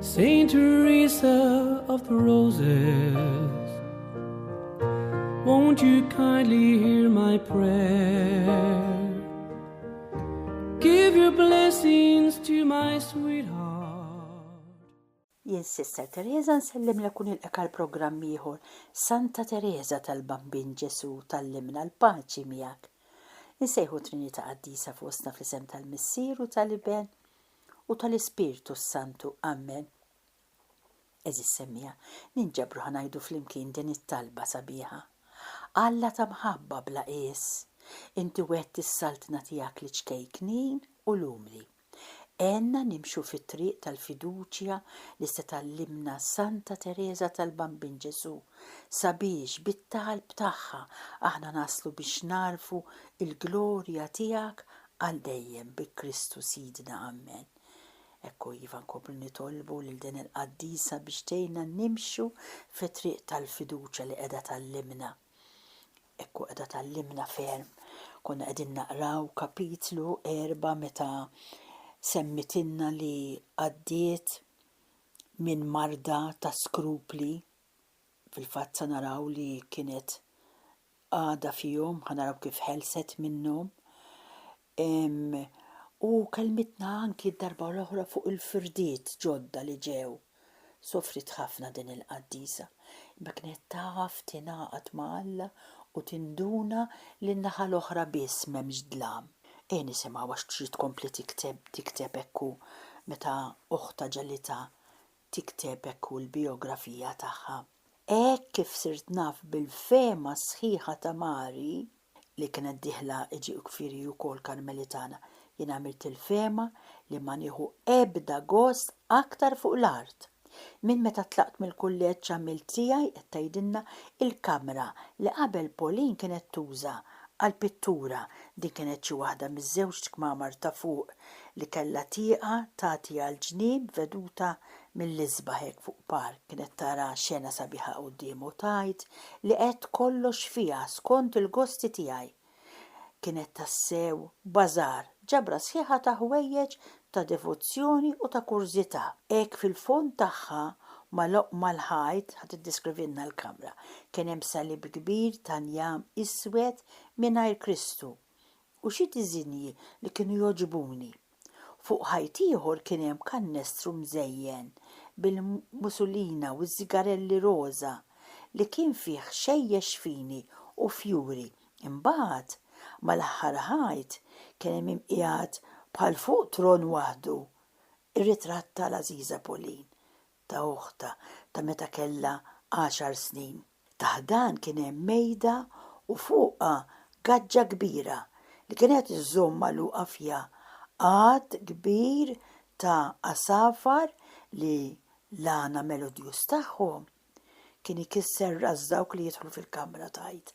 Saint Teresa of the Roses, won't you kindly hear my prayer? Give your blessings to my sweetheart. Jien Sister Teresa nsellim l kun il-eka l-programm ieħor Santa Teresa tal-Bambin Ġesu tal-limna l-paċi miegħek. Insejħu Trinita Qaddisa fostna fl-isem tal-Missier u tal-Iben u tal-Ispirtu s-Santu. Amen. Għeżież semmiegħa, ninġabru ħa ngħidu flimkien din it-talba sabiħa, Alla ta' mħabba bla qies, Inti wgħedt is-Saltna tiegħek liċ-ċkejknin u l-umli. Għenna nimxu fit-triq tal-fiduċja li se tgħallimna Santa Tereża tal-Bambin Ġesù, sabiex bit-talb tagħha aħna naslu biex nagħrfu l-glorja tiegħek Għal dejjem bi Kristu Sidna Ammen. Ekku iva nkomplu nitolbu lil din il-Qaddisa biex tgħinna nimxu fit-triq tal-fiduċja li qiegħda tgħallimna. Ekku qiegħda tgħallimna ferm. Konna qegħdin naqraw kapitlu erba' meta semmitilna li għaddiet minn marda ta' skrupli, fil-fatt sa naraw li kienet għada fihom, ħa naraw kif ħelset minnhom. U kelmitna anki d-darba l-oħra fuq il-firdiet ġodda li ġew. Sofrit ħafna din il-qaddisa. Ma kienet taf tingħaqad ma' Alla u tinduna li n-naħa l-oħra biss m'hemmx dlam. Ejja nisimgħu għax trid tkompli tikteb hekk hu meta oħtha ġelitha tikteb hekk hu l-bijografija tagħha, Hekk kif sirt naf bil-fehma sħiħa ta' Mari, li kienet dieħla iġifieri hi wkoll Karmelitana, jien għamilt il-fehma li ma nieħu ebda gost aktar fuq l-art. Minn meta tlaqt mill-kulleġġ għamilt tiegħi qed tgħidilna il-kamra li qabel Pauline kienet tuża Għall-pittura, din kienet xi waħda miż-żewġt kmamar ta' fuq li kellha tieqa tagħti għal ġnien b'veduta mill-isbaħ hekk fuq park. Kienet tara xena sabiħa quddiemha u tgħid li għedt kollox fiha skont il-gosti tiegħi. Kienet tassew bazaar, ġabra sħiħa ta' ħwejjeġ ta' devozzjoni u ta' kurżità. Hekk fil-fond tagħha, mal-oqma l-ħajt, ħa tiddeskrivilna l-kamra, kien hemm salib kbir ta' njam iswed mingħajr Kristu, u xi diżinji li kienu jogħġbuni. Fuq ħajt ieħor kien hemm kannestru mżejjen bil-musulina u ż-żigarelli roża, li kien fih xejjex fini u fjuri Imbagħad, mal-aħħar ħajt, kien hemm min qiegħed bħal fuq tron waħdu, ir-ritratt ta' l-għażiża Pauline, ta' uħtha, ta' meta kellha għaxar snin. Taħt dan kien hemm mejda u fuqha gaġġa kbira li kienet iżżomm magħluqa fiha għadd kbir ta' għasafar li l-għana melodjuż tagħhom kien ikisser ras dawk li jidħlu fil-kamra, tgħid.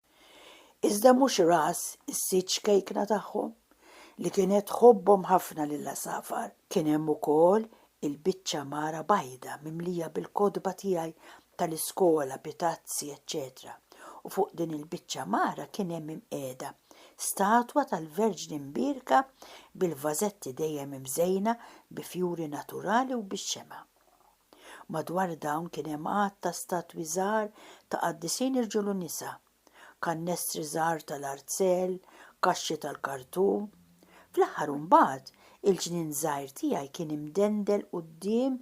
Iżda mhux ras is-sid ċkejkna tagħhom, li kienet tħobbhom ħafna lill-għasafar. Kien hemm ukoll il-biċċa mara bajda mimlija bil-kotba tiegħi tal-iskola bi tazzi eċċetera u fuq din il-biċċa mara kien hemm imqiegħda statwa tal-Verġni Mbierka bil-vażetti dejjem imżejna bi fjuri naturali u bix-xemgħa. Madwar dawn kien hemm għadd ta' statwi żgħar ta' qaddisin irġiel u nisa, kannestri żgħar tal-arzel, kaxxi tal-kartun. Fl-aħħar u mbagħad, il-ġnien żgħir tiegħi kien imdendel quddiem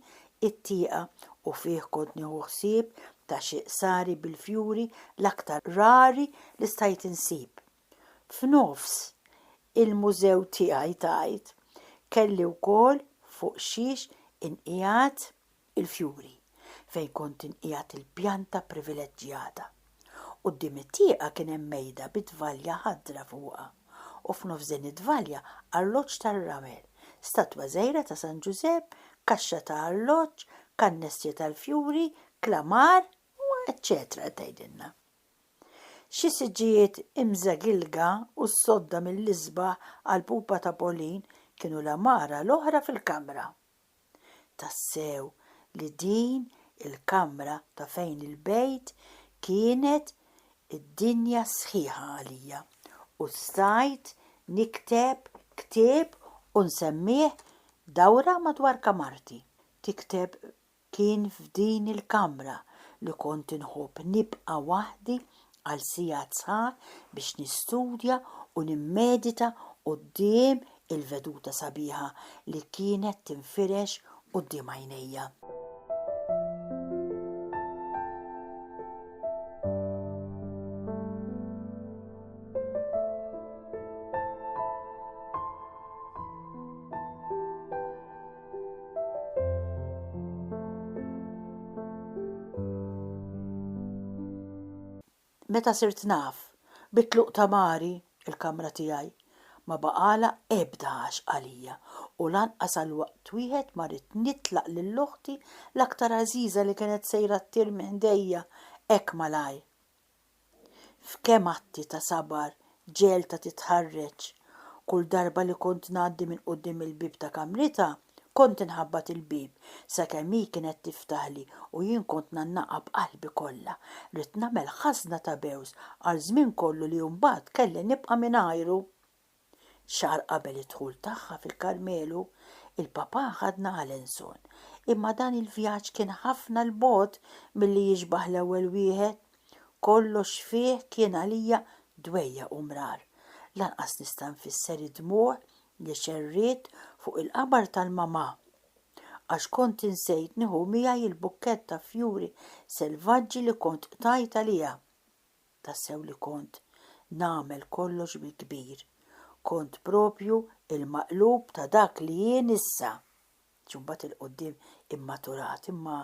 it-tieqa u fih kont nieħu ħsieb ta' xi qsari bil-fjuri l-aktar rari li stajt insib. F'nofs il-mużew tiegħi tgħid, kelli wkoll fuq xiex inqiegħed il-fjuri, fejn kont inqiegħed il-pjanta privileġġjata. Quddiem it-tieqa kien hemm mejda bi tvalja ħadra fuqha, u f'nofs din it-tvalja arloġġ tar-ramel, statwa żgħira ta' San Ġużepp, kaxxa ta' arloġġ, kannestri tal-fjuri, klamar, u eċċetera qed tgħidilna. Xi siġġijiet imżegilga u sodda mill-isbaħ għall-pupa ta' Pauline kienu l-għamara l-oħra fil-kamra. Tassew li din il-kamra ta' fejn il-bejt kienet id-dinja sħiħa għalija u stajt nikteb ktieb u nsemmih dawra madwar kamarti. Tikteb Kien f'din il-kamra li kont inħobb nibqa' waħdi għal sigħat sħaħ biex nistudja u nimmedita quddiem il-veduta sabiħa li kienet tinfirex quddiem għajnejja. Meta sirt naf bit-tluq ta' Mari, il-kamra tiegħi ma baqagħlha ebda għaxq għalija u lanqas għal waqt wieħed ma ridt nitlaq lil oħti l-aktar għażiża li kienet sejra ttir minn ħdejja hekk malajr. F'kemm atti ta' sabar ġegħeltha titħarreġ. Kull darba li kont ngħaddi minn quddiem il-bieb ta' kamritha, kont inħabbat il-bieb, sakemm hi kienet tiftaħli u jien kont ngħannaqha b'qalbi kollha. Ridt nagħmel ħażna ta' bews għal żmien kollu li mbagħad kelli nibqa' mingħajru. Xahar qabel id-dħul tagħha fil-Karmelu, il-Papà ħadna Alençon, imma dan il-vjaġġ kien ħafna 'l bogħod milli jixbah l-ewwel wieħed. Kollox fih kien għalija dwejjaq u mrar. Lanqas nista' nfisser id-dmugħ li xerriet fuq il-qabar tal-mamà, għax kont insejt nieħu miegħi l-bukkett ta' fjuri selvaġġi li kont qtajt għaliha. Tassew li kont nagħmel kollox bil-kbir. Kont proprju l-maqlub ta' dak li jien issa. Ġie mbagħad 'il quddiem immaturat imma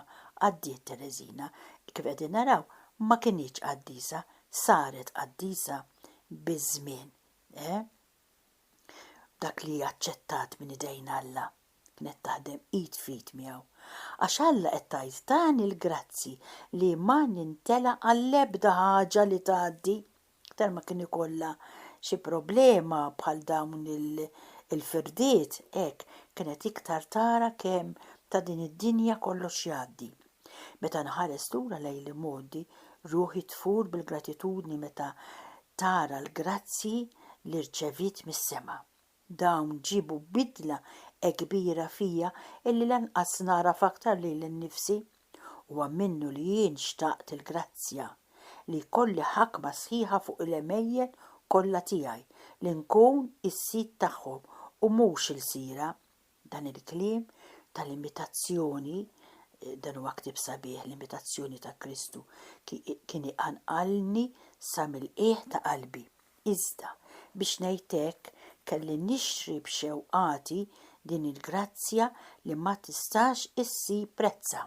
għaddiet Tereżina. Kif qegħdin naraw, ma kinitx qaddisa, saret qaddisa biż-żmien, eh? B'dak li aċċettat minn idejn Alla. kienet taħdem id f'id miegħu, għax Alla qed tgħid tani l-grazzji li ma nintela' għall-ebda ħaġa li tgħaddi, iktar ma kien ikollha xi problema bħal dawn il-firdiet, hekk kienet iktar tara kemm ta' din id-dinja kollox jgħaddi. Meta nħares lura lejn l-imgħoddi, ruħi tfur bil-gratitudni meta tara l-grazzji li rċeviet mis-sema. Dawn ġiebu bidla hekk kbira fija illi lanqas nagħraf aktar lili nnifsi. Huwa minnu li jien xtaqt il-grazzja, li jkolli ħakma sħiħa fuq il-għemejjel kollha tiegħi, li nkun is-sid tagħhom u mhux ilsira, Dan il-kliem tal-imitazzjoni, dan huwa ktieb sabiħ, l-imitazzjoni ta' Kristu, kien iqanqalni sa mill-qiegħ ta' qalbi. Iżda, biex ngħid hekk, kelli nixtri b'xewqati din il-grazzja li ma tistax issir prezzha.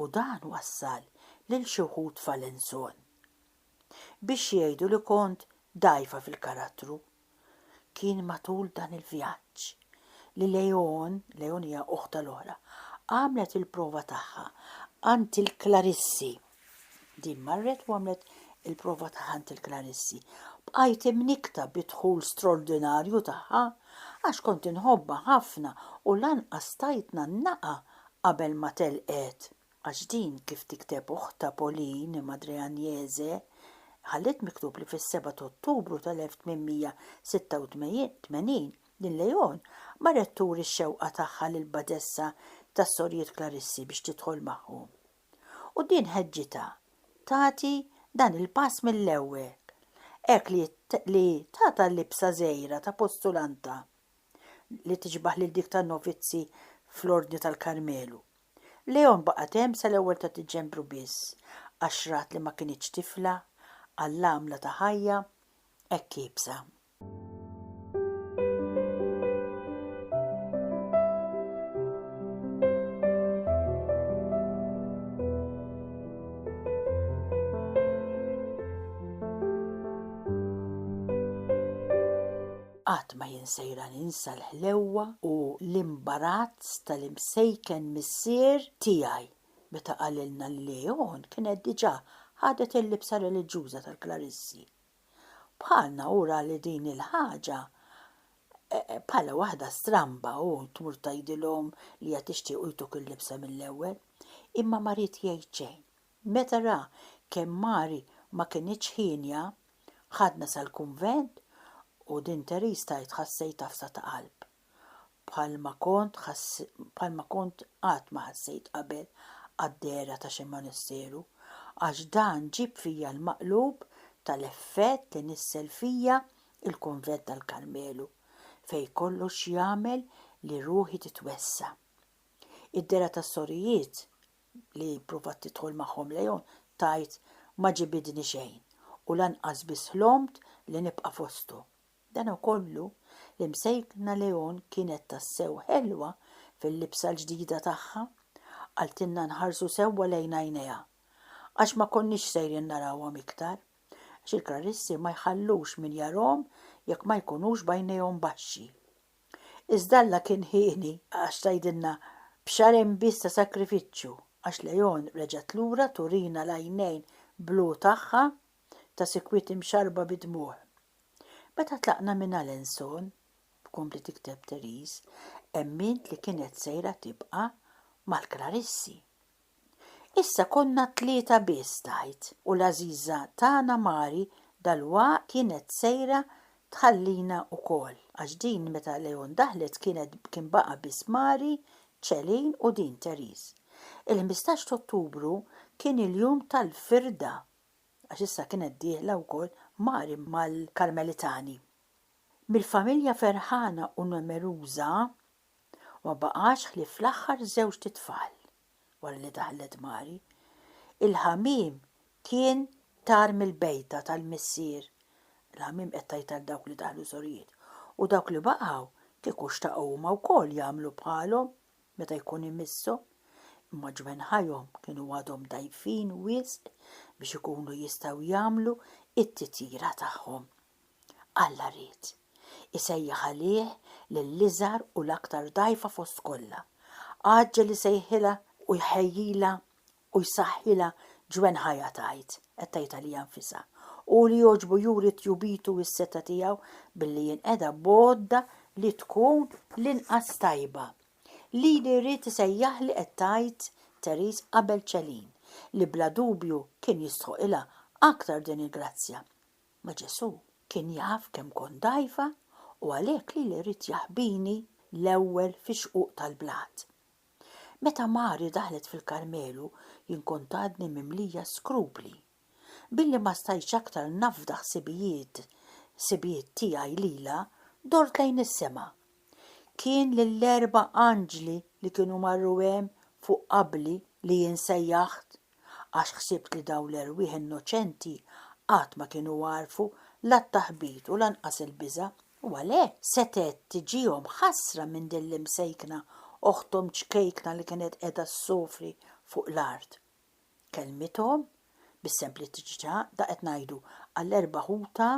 u dan wassal lil xi wħud f'Alençon biex jgħidu li kont dgħajfa fil-karattru. Kien matul dan il-vjaġġ li Leone, Leone hija oħtha l-oħra, għamlet il-prova tagħha għand il-Klarissi. Din marret u għamlet il-prova ta' ħant il-klarissi. Bqajt imnikta bid-dħul straordinarju tagħha għax kont inħobbha ħafna u lanqas tajtna naqa' qabel ma telqet. Għax din kif tikteb uħtha Pauline, Madre Agnese, ħalliet miktub li fis-seba' t'Ottubru tal-1886 din Leon marret turi x-xewqa tagħha lill-badessa tas-Sorijiet Klarissi biex tidħol magħhom. U din ħeġġitha tagħti dan il-pass mill-ewwel, hekk li li tagħtha l-libsa żgħira ta' postulanta li tixbah lil dik ta' novizzi fl-Ordni tal-Karmelu. Leon baqgħet hemm sal-ewwel ta' Diċembru biss, għax rat li ma kinitx tifla, għall-għamla ta' ħajja hekk iebsa. Qatt ma jien sejra ninsa l-ħlewwa u l-imbarazz tal-imsejken missier tiegħi meta qalilna li Leon kienet diġà ħadet il-libsa reliġjuża tal-klarissi. Bħalna hu ra li din il-ħaġa bħala waħda stramba u tmur tgħidilhom li qed tixtiequ jtuk il-libsa mill-ewwel. Imma ma ried jgħid xejn. Meta ra kemm Mary ma kinitx hienja, ħadna sal-kunvent u din Therese tgħid ħassejt għafsa ta' qalb. bħal ma kont bħal ma kont qatt ma ħassejt qabel għad-dehra ta' xi monasteru, għax dan ġieb fija l-maqlub tal-effett li nissel fija l-Kunvent tal-Karmelu, fejn kollox jagħmel li ruħi titwessa'. Id-dehra tas-sorijiet, li pprovat tidħol magħhom Leon, tgħid, Ma ġibidni xejn, u lanqas biss ħlomt li nibqa' fosthom. Danakollu, l-Imsejkna Leon kienet tassew ħelwa fil-libsa l-ġdida tagħha. Qaltilna nħarsu sewwa lejn għajnejha, għax ma konniex sejrin narawhom iktar, għax il-krarissi ma jħallux min jarahom jekk ma jkunux b'għajnejhom baxxi. Iżda Alla kien hieni, għax tgħidilna, B'xahrejn biss ta' sagrifiċċju, għax Leon reġgħet lura turina l-għajnejn blu tagħha ta' sikwit imxarrba bid-dmugħ. Meta tlaqna minn Alençon, tkompli tikteb Therese, emmint li kienet sejra tibqa' mal-Klarissi. Issa konna t-tlieta biss tgħid u l-għażiża tagħna Mari dalwaqt kienet sejra tħallina wkoll għax din meta Léon daħlet kienet kien baqa' biss Mari, Céline u din Therese. Il-ħmistax t'Ottubru kien il-jum tal-firda għax issa kienet dieħla wkoll Mari mal-Karmelitani. Mill-familja ferħana u numeruża, ma baqax ħlief l-aħħar żewġt itfal wara li daħlet Mari. Il-ħamiem kien tar mill-bejta tal-missier, il-ħamiem qed tgħid għal dawk li daħlu sorijiet, u dawk li baqgħu kieku xtaqu huma wkoll jagħmlu bħalhom. meta jkun imisshom, imma ġwenħajhom kienu għadhom dgħajfin wisq biex ikunu jistgħu jagħmlu t-titjira tagħhom. Alla ried isejjaħ għalih lill-iżgħar u l-aktar dgħajfa fost kollha. Għaġġel isejħilha u jħejjilha u jsaħħilha ġwenħha hija tgħid, qed tgħid għalija nfisha. Hu li jogħġbu juri tjubitu u s-setgħa tiegħu billi jinqeda b'għodda li tkun l-inqas tajba. Lili jrid isejjaħli qed tgħid Therese qabel Celine, li bla dubju kien jistħoqilha aktar din il-grazzja. Ma Ġesù kien jaf kemm kont dgħajfa u għalhekk lili ried jaħbini l-ewwel fix-xquq tal-blat. Meta Mari daħlet fil-Karmelu jien kont għadni mimlija skrupli. Billi ma stajtx aktar nafda ħsibijiet ħsibijiet tiegħi lilha, dort lejn is-sema. Kien lill-erba' anġli li kienu marru hemm fuq qabli li jien sejjaħt, għax ħsibt li dawn l-erwieħ innoċenti qatt ma kienu għarfu la t-taħbit u lanqas il-biża'. U għalhekk setgħet tiġihom ħasra minn din l-imsejkna oħthom ċkejkna li kienet qiegħda ssofri fuq l-art. Kellmithom, bis-sempliċità, daqq qed ngħidu għall-erba' ħutha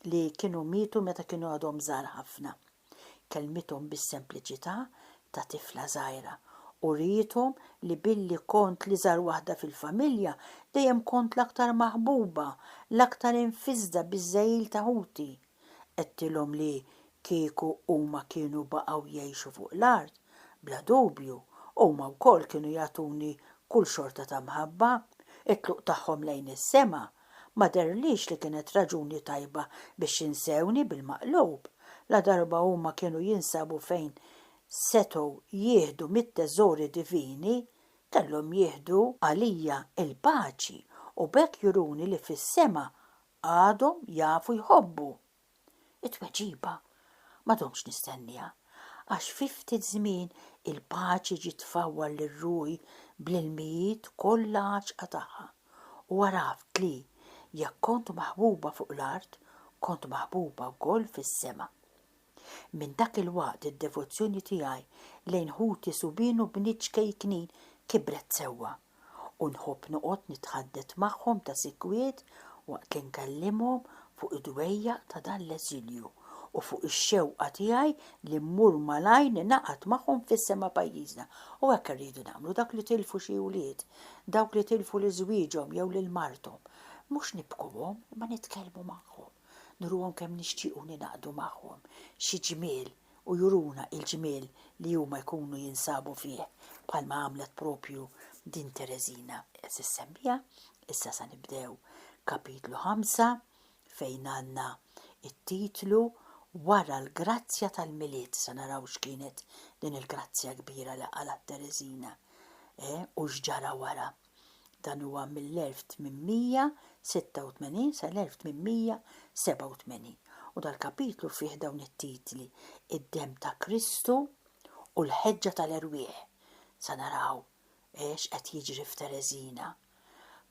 li kienu mietu meta kienu għadhom żgħar ħafna. Kellmithom bis-sempliċità ta' tifla żgħira. Uriethom li billi kont l-iżgħar waħda fil-familja, dejjem kont l-aktar maħbuba, l-aktar imfiżżda biż-żegħil ta' ħuti. Għedtilhom li kieku huma kienu baqgħu jgħixu fuq l-art, bla dubju, huma wkoll kienu jagħtuni kull xorta ta' mħabba. It-tluq tagħhom lejn is-sema ma dehrlix li kienet raġuni tajba biex jinsewni bil-maqlub, ladarba huma kienu jinsabu fejn setgħu jieħdu mit-teżori divini, kellhom jieħdu għalija l-paċi u b'hekk juruni li fis-sema għadhom jafu jħobbu? It-tweġiba ma domtx nistenniha, għax fi ftit żmien il-paċi ġiet tfawwar lil ruħi bl-ilmijiet kollha għaxqa tagħha, u għaraft li, jekk kont maħbuba fuq l-art, kont maħbuba wkoll fis-sema. Minn dak il-waqt id-devozzjoni tiegħi lejn ħuti subien u bniet ċkejknin kibret sewwa. u nħobb noqgħod nitħaddet magħhom ta' sikwit waqt li nkellimhom fuq id-dwejjaq ta' dan l-eżilju u fuq ix-xewqa tiegħi li mmur malajr ningħaqad magħhom fis-sema pajjiżna. U hekk irridu nagħmlu, dawk li tilfu xi wlied, dawk li tilfu lil żwieġhom jew lil marthom. Mhux nibkuhom, imma nitkellmu magħhom, nuruhom kemm nixtiequ ningħaqdu magħhom. Xi ġmiel u juruna il-ġmiel li huma jkunu jinsabu fih bħalma għamlet propju din Tereżina qed issemmija, issa se nibdew kapitlu ħamsa fejn għandna t-titlu Wara l-grazzja tal-Milied se naraw x'kienet din il-grazzja kbira li qalgħat Tereżina u x'ġara wara. Dan huwa mill-1886 sal-1887 u dal-kapitlu fih dawn it-titli, Id-demm ta' Kristu u l-ħeġġa tal-erwieħ. Sa naraw x'qed jiġri f'Tereżina.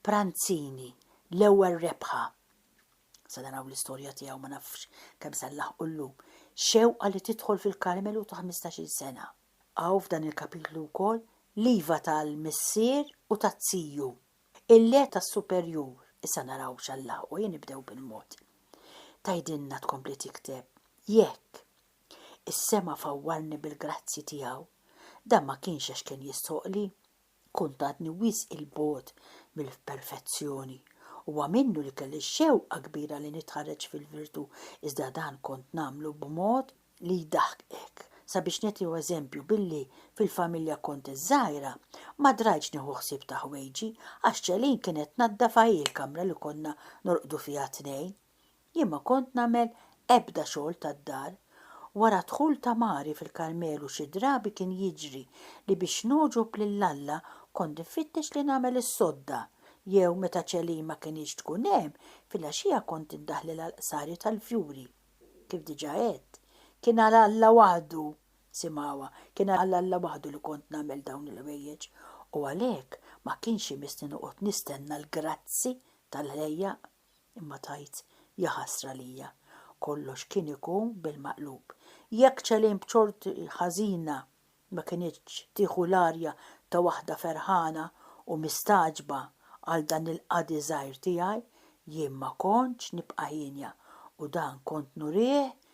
Pranzini, l-ewwel rebħa. Sa naraw l-istorja tiegħu ma nafx kemm se nlaħħqu llum. Xewqa li tidħol fil-Karmelu ta' ħmistax-il sena. Hawn f'dan il-kapitlu wkoll l-iva tal-missier u taz-ziju, il-le tas-superjur, issa naraw x'Allah hu, nibdew bil-mod. Tgħidilna tkompli tikteb, Jekk, is-sema fawwarni bil-grazzji tiegħu, dan ma kienx għax kien jistħoqqli, Kont għadni wisq 'il bogħod mill-perfezzjoni. Huwa minnu li kelli xewqa kbira li nitħarreġ fil-virtù, iżda dan kont nagħmlu b'mod li jdaħħqek. Sabiex nagħtiw eżempju, billi fil-familja kont iż-żgħira, ma drajtx nieħu ħsieb ta' ħwejġi, għax Celine kienet tnaddaf hi l-kamra li konna norqdu fiha t-tnejn. Jien ma kont nagħmel ebda xogħol tad-dar. Wara d-dħul ta' Mari fil-Karmelu xi drabi kien jiġri li biex nogħġob lil Alla kont nfittex li nagħmel is-sodda jew meta Celine ma kinitx tkun hemm, filgħaxija kont indaħħlel għall-qsari tal-fjuri. Kif diġà għedt, kien għal Alla waħdu, simgħuha, kien għal Alla waħdu li kont nagħmel dawn il-ħwejjeġ u għalhekk ma kienx imissni noqgħod nistenna l-grazzi tal-ħlejjaq. Imma tgħid, Jaħasra lija, kollox kien ikun bil-maqlub. Jekk Celine b'xorti ħażina ma kinitx tieħu l-arja ta' waħda ferħana u mistagħġba għal dan il-qadi żgħir tiegħi, jien ma kontx nibqa' hienja u dan kont nurih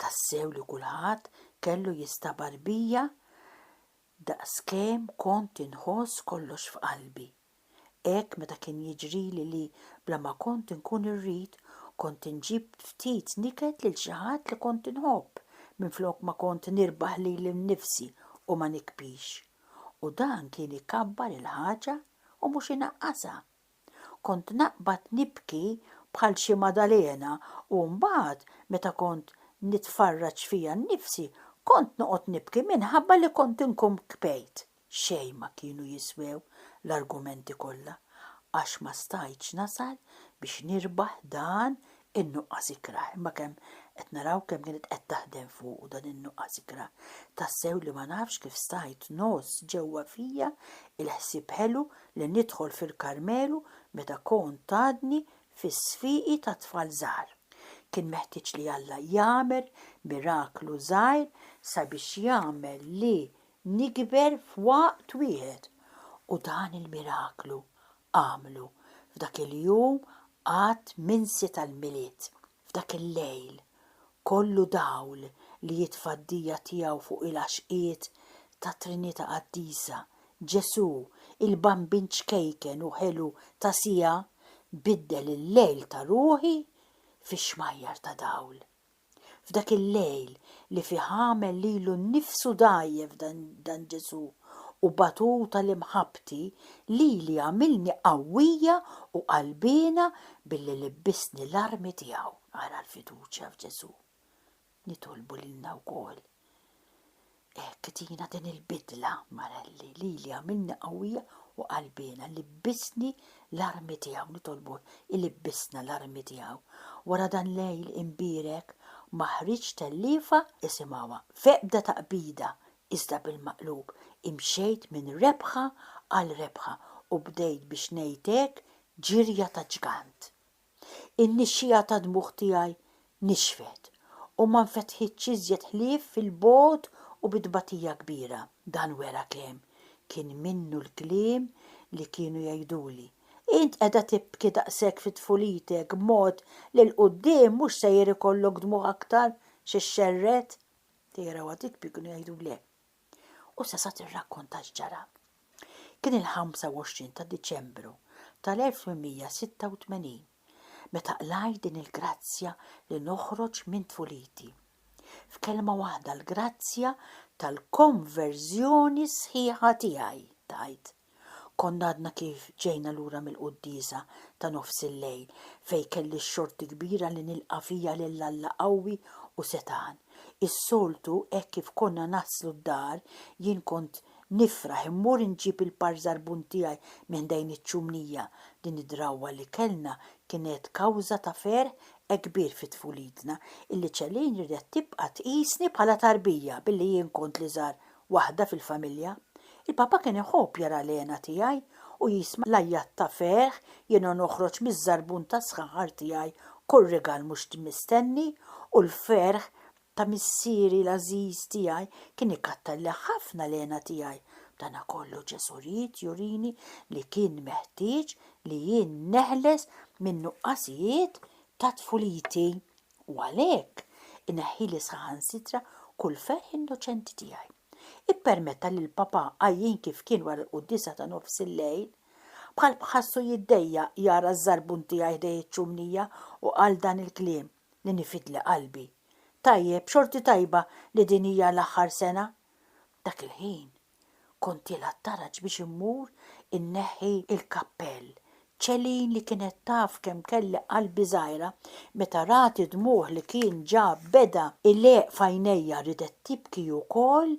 Tassew li kulħadd kellu jistabar bija daqskemm kont inħoss kollox f'qalbi. Hekk meta kien jiġrili li bla ma kont inkun irrid, kont inġib ftit niket lil xi ħadd li kont inħobb minflok ma kont nirbaħ lili nnifsi u ma nikbix. U dan kien ikabbar il-ħaġa u mhux inaqqasha. Kont naqbad nibki bħal xi Maddalena u mbagħad meta kont nitfarraġ fija nnifsi kont noqgħod nibki minħabba li kont inkun kbejt. Xejn ma kienu jiswew l-argumenti kollha għax ma stajtx nasal biex nirbaħ dan in-nuqqas ikrah, imma kemm qed naraw kemm kienet qed taħdem fuqu dan in-nuqqas ikrah, tassew li ma nafx kif stajt ngħożż ġewwa fija il-ħsieb ħelu li nidħol fil-Karmelu meta kont għadni fis-sfieqi ta' tfal żgħar. Kien meħtieġ li Alla jagħmel miraklu żgħir sabiex jagħmel li nikber f'waqt wieħed, u dan il-miraklu għamlu f'dak il-jum għad minsi tal-Milied, f'dak il-lejl kollu dawl li jitfa' d-dija tiegħu fuq il-għaxqiet tat-Trinita' Qaddisa, Ġesù, il-Bambin ċkejken u ħelu ta' siegħa, biddel il-lejl ta' ruħi fi xmajjar ta' dawl. F'dak il-lejl li fih għamel lilu nnifsu dgħajjef dan Ġesù u batut għal imħabbti, lili għamilni qawwija u qalbiena billi libbisni l-armi tiegħu. Ara l-fiduċja f'Ġesù. Nitolbu lilna wkoll Hekk tina din il-bidla, Marelli, lili għamilni qawwija u qalbiena, libbisni l-armi tiegħu, nitolbuh ilibbisna l-armi tiegħu. Wara dan lejl imbierek ma ħriġt telliefa isimgħuha f'ebda taqbida iżda bil-maqlub imxejt minn rebħa għal rebħa u bdejt biex ngħid hekk ġirja ta' ġgant. In-nixxiegħa tad-dmugħ tiegħi nixfet, u ma nfetħitx iżjed ħlief fil-bogħod u bi tbatija kbira. Dan wera kemm kien minnu l-kliem li kienu jgħiduli, Int qiegħda tibki daqshekk fi tfulitek b'mod li 'l quddiem mhux sejjer ikollok dmugħ aktar xi xxerred? Tejrawha titpi kienu jgħidulek, U sa sa tirrakkonta x'ġara. Kien il-25 ta' Diċembru tal-1886 meta qlajt din il-grazzja li noħroġ minn tfuliti. F'kelma waħda l-grazzja tal-konverżjoni sħiħa tiegħi, tgħid. Konna għadna kif ġejna lura mill-quddiesa ta' nofs il-lejl fejn kelli x-xorti kbira li nilqa' fija lil Alla qawwi u setgħan. Is-soltu hekk kif konna naslu d-dar jien kont nifraħ immur inġib il-par żarbun tiegħi minn ħdejn iċ-ċumnija. Din id-drawwa li kellna kienet kawża ta' ferħ ekbir fi tfulitna illi Celine ridet tibqa' tqisni bħala tarbija billi jien kont l-iżgħar waħda fil-familja. Il-Papa kien iħobb jara l-hena tiegħi u jisma' l-għajjat ta' ferħ jiena noħroġ miż-żarbun tas-sħanħar tiegħi kull rigal mhux mistenni u l-ferħ ta' Missieri l-għażiż tiegħi kien ikattarli ħafna l-hena tiegħi. B'dana kollu Ġesù ried jurini li kien meħtieġ li jien neħles min-nuqqasijiet ta' tfuliti. U għalhekk ineħħili saħansitra kull ferħ innoċenti tiegħi. Ippermetta li l-Papa għajjien kif kien wara l-quddiesa ta' nofs il-lejl, bħal b'ħassu jiddejjaq jara ż-żarbun tiegħi ħdejn iċ-ċumnija u qal dan il-kliem li nifidli qalbi, Tajjeb, xorti tajba li din hija l-aħħar sena? Dak il-ħin Kontilha ttaraġ biex immur inneħħi l-kappell. Celine li kienet taf kemm kelli qalbi żgħira, meta rat id-dmugħ li kien ġab beda jleqq f'għajnejja ridet tibki hi wkoll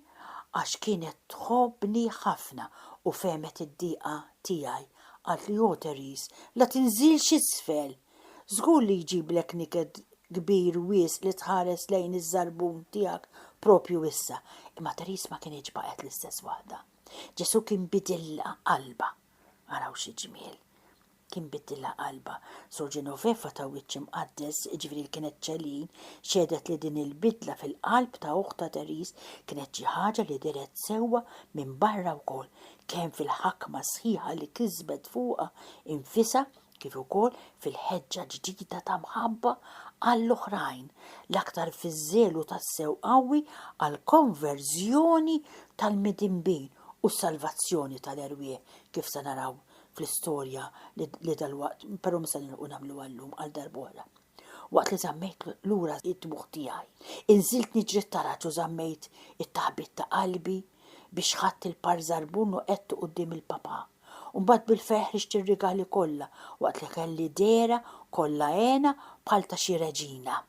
għax kienet tħobbni ħafna u fehmet id-diqa tiegħi. Qaltli, Ohh Therese, la tinżilx isfel! Żgur li jġiblek niket kbir wisq li tħares lejn iż-żarbun tiegħek proprju issa. Imma Therese ma kinitx baqgħet l-istess waħda. Ġesù kien bidilha qalbha. Araw xi ġmiel! Kien biddilha qalbha. Sor Genoveva ta' wiċċ imqaddes, jiġifieri li kienet Celine, xehdet li din il-bidla fil-qalb ta' uħtha Therese kienet xi ħaġa li dehret sewwa minn barra wkoll, kemm fil-ħakma sħiħa li kisbet fuqha infisha, kif ukoll fil-ħeġġa ġdida ta' mħabba għall-oħrajn, l-aktar fiż-żelu tassew qawwi għall-konverżjoni tal-midinbin u s-salvazzjoni tal-erwieħ, kif se naraw fl-istorja li dalwaqt, però mhux se nilħqu nagħmluha llum għal darb'oħra. Waqt li żammejt lura d-dmugħ tiegħi, inżilt niġri t-taraġ u żammejt it-taħbit ta' qalbi biex ħadt il-par żarbun u qegħdtu quddiem il-Papà. U mbagħad bil-ferħ rixt ir-rigali kollha waqt li kelli dehra kollha hena bħal ta' xi reġina.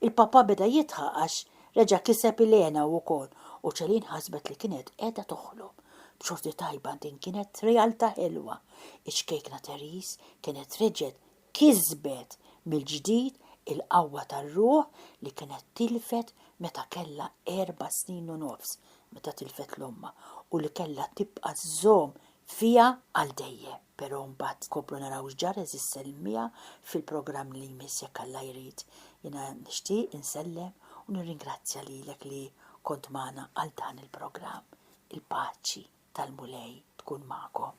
Il-Papà beda jidħaq għax reġa' kiseb il-hena hu wkoll u Céline ħasbet li kienet qiegħda toħlom. B'xorti tajba din kienet realtà ħelwa. Iċ-ċkejkna Therese kienet reġgħet Kisbet mill-ġdid il-qawwa tar-ruħ li kienet tilfet meta kellha erba' snin u nofs meta tilfet 'l ommha u li kellha tibqa' żżomm fiha għal dejjem. Però mbagħad nkomplu naraw x'ġara għeżież sellmiha fil-programm li jmiss jekk Alla jrid. Jiena nixtieq insellem u nirringrazzja lilek li kont magħna għal dan il-programm. Il-paċi tal-Mulej tkun magħkom.